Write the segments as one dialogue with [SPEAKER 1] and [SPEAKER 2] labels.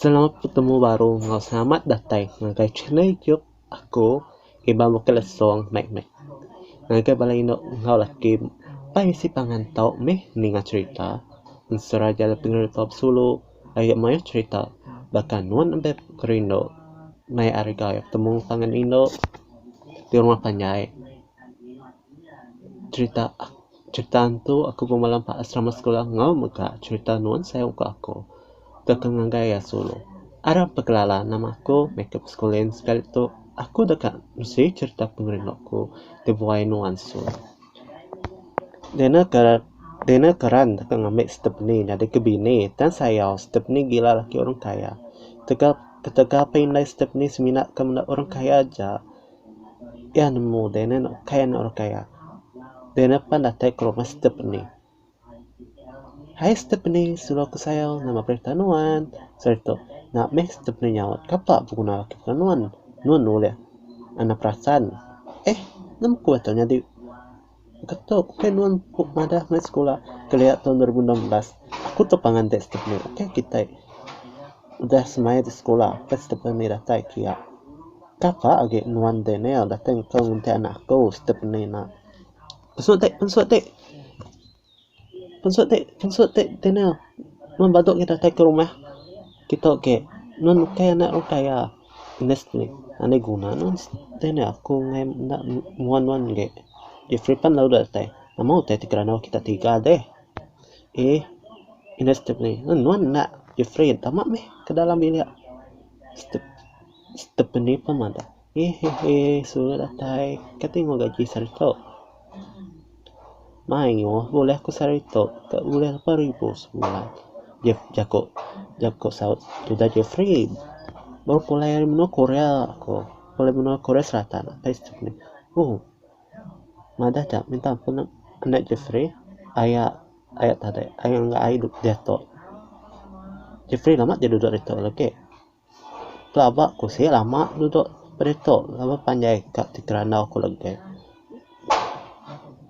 [SPEAKER 1] Selamat betemu baru enggau selamat datai ngagai channel youtube aku Iban Bukit Lesong Mek Mek. Ngagai bala indu enggau laki empai bisi pangan tau meh ninga cherita ensera aja le pengerita besulu agi mayuh cherita baka nuan embai kerindu mai ari gawi betemu pangan indu di rumah panjai cherita. Cherita tu aku bemalam ba asrama sekula enggau mega cherita nuan sayau ke aku ke ke ngagai iya sulu. Arap ke kelala nama aku meh ke beskulin sekali tu aku deka mesi cherita pengerindu aku ti buai nuan sulu. Dina ke dina ke ran deka ngambi Stephany nyadi ke bini tang sayau Stephany gila laki orang kaya. Tegal ketegal pun indai Stephany semina ke menda orang kaya aja. Iya nemu daynan ukai anak orang kaya. Daynan pan datai ke rumah siti peni. Hai siti peni silo ku sayau nama perintah nuan. Seri tu nak meh siti peni nyaut kapa beguna laki kena nuan. Nuan ulih anak perasan. Eh nemu ku ato nyadi. Getu ukai nuan ku madah meh sekula kelia tahun dua ribu enam belas aku tu pangan deh step nya ukai kitai udah semaya ti sekula udah step nya meh datai kia kapa agi nuan Daniel datai ngau ngunting anak aku step nya ina. Mesu ti mesu ti. Pensut ti pensut ti kena mun badu kita tai ke rumah kita agi mun ukai anak orang kaya unit ti enda guna ne tai enda aku ngai enda nuan nuan agi Jeffrey pan lalu ida datai nama utai ti kerandau kita tiga deh eii unit ti meh nuan enda Jeffrey tama meh ke dalam bilik Ste Stephanie pun madah. Hehehe surut atai ka ti meh gaji sehari tu. Mayuh bulih ku sehari tu ka bulih lapan ribu sebulan. Jef jaku jaku saut tudah Jefri baru pulai ari menua Korea ku. Pulai menua Korea Selatan apai situ meh. Oh madah ka minta ampun enda Jefri aya aya tadi aya enggau ai diatu. Jefri lama ti duduk ditu lagi. Pelaba ku sik lama dudok ditu lalu panjai ka ti kerandau ku legi.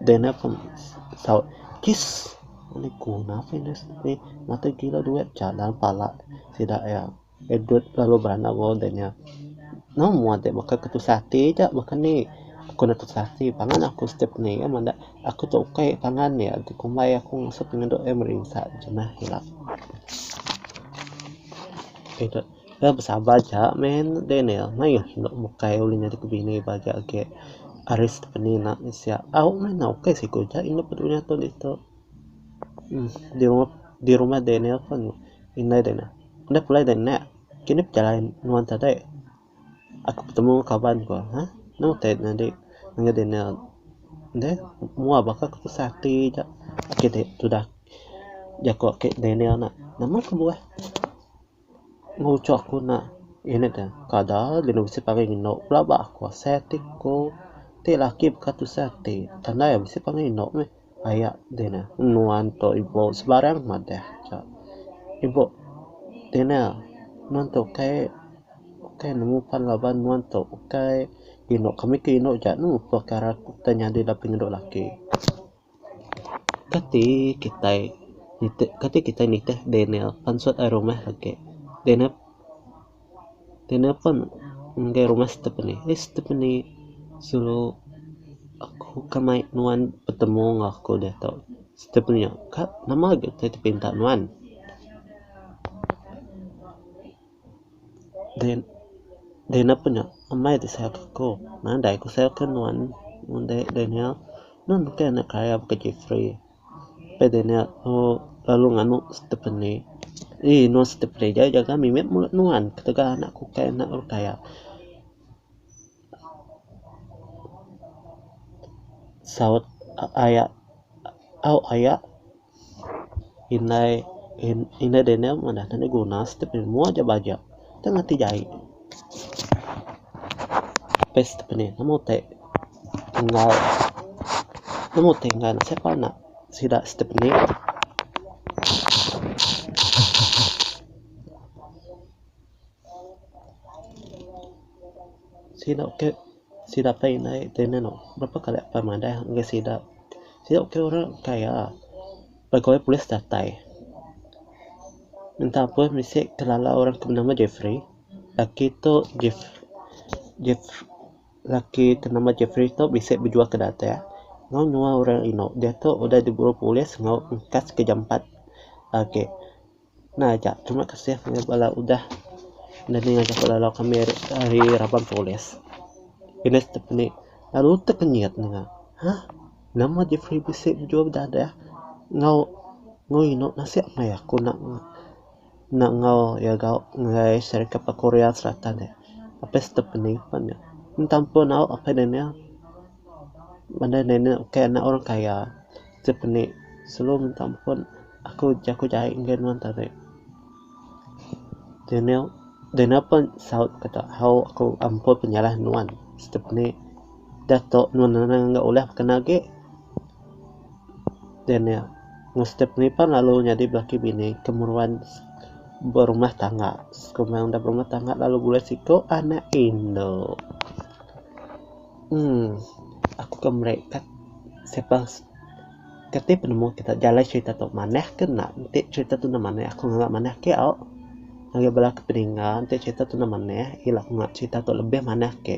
[SPEAKER 1] Deh ne pun saut kiss ngini guna ke ne siti ngatur kilau duit cha dalam pala sida iya dudut lalu beranak bala deh nya. Nang mua ti baka ke tusah ati aja baka ni ku ne tusah ati pangan aku setiap indi iya menda aku tu ukai pangan iya ti kumbai aku ngasut pengenduk iya merinsa jemah ila. Besabar aja meh Daniel maioh enda bukai ulih nyadi ke bini ba agi agi ari Stephanie enda meh sia au meh enda oke siku ja indu pun duduk nyatu ditu di rumah Daniel pun indai Daniel enda pulai deh nek kini pejalai nuan tadai. Aku betemu kaban ku ha anu utai ne dik ngagai dinner deh mua baka ku tusah ati ja agi dik tudah jaku aki dinner nak nama ku buleh ngucho ku nak unit ne kada lalu bisi pangai inu pula ba aku asai ati ku ti laki baka tusah ati tandai bisi pangai inu meh. Aya di ne nuan tu ibu sebarang madah ka. Ibu di ne nuan tu ukai ukai nemu pan laban nuan tu ukai inu kami ti inu ja nemu perkara ti nyadi da pengedu laki. Kati kitai nitih kati kitai nitih daniel pansut rumah age daniel Ti napang ngagai rumah Stephanie. Hai Stephanie. Selalu aku ka mai nuan betemu enggau aku diatu. Stephanie. Ka nama agi ti aku pinta nuan. Din din apa nya amai ti sayang aku. Nadai ku sayang nuan. Mun dei dei nya nuan bukai anak kaya baka Jeffrey. Lepas deh nya aku lalu nganu stephane eii eno stephane ja jaga mimit mulut nuan ketegal bala anak kukai anak rukai iya. Saut aya au aya indai indai daniel madah enda guna stephane mua ja baja tang ati jai. Paste stephane amu utai. Enggau nemu ti ngaran ne sapa nya sida step indi. Sida ke sida pun indai berapa kali apai madah ngagai sida. Sida ke orang kaya pegawai polis datai minta appoint bisi ke lala orang ke nama Jefri. Laki tu Jef Jef. laki ti nama Jefri tu bisi bejuah ke datai enggau nyuwa orang inu. Diatu udah diguru polis enggau engkas ke jampat agi. Nah aja terima kasih ngagai bala udah nulung ngajar bala lalau kami ari raban polis. Pindah siti peni lalu utek nyiat ne nya. Hah nama Jefri bisi bejuah bedadah enggau enggau inu nasib meh aku nak. Enda enggau iya gauk enggai Serikat ba Korea Selatan nya. Apai sedup pening pan nya. Entang pun au apai Daniel. Bandar Daniel ukai anak orang kaya. Sedup indi selalu minta ampun aku jaku jai enggai nuan tadi. Daniel Daniel pun saut kata au aku ampun penyalah nuan. Sedup indi da tok nuan anang enggau ulah baka agi. Daniel, enggau Stephanie pan lalu nyadi belaki bini ke meruan berumah tangga. Kuma enda berumah tangga lalu bulai siko anak indu. Emm aku ke meri ka siapa ke ti penemu kita jalai serita tu manah ke enda enti serita tu enda manah aku nganga manah ke au. Ngagai bala ke pedinga enti serita tu enda manah ila ku nganga serita tu lebih manah agi.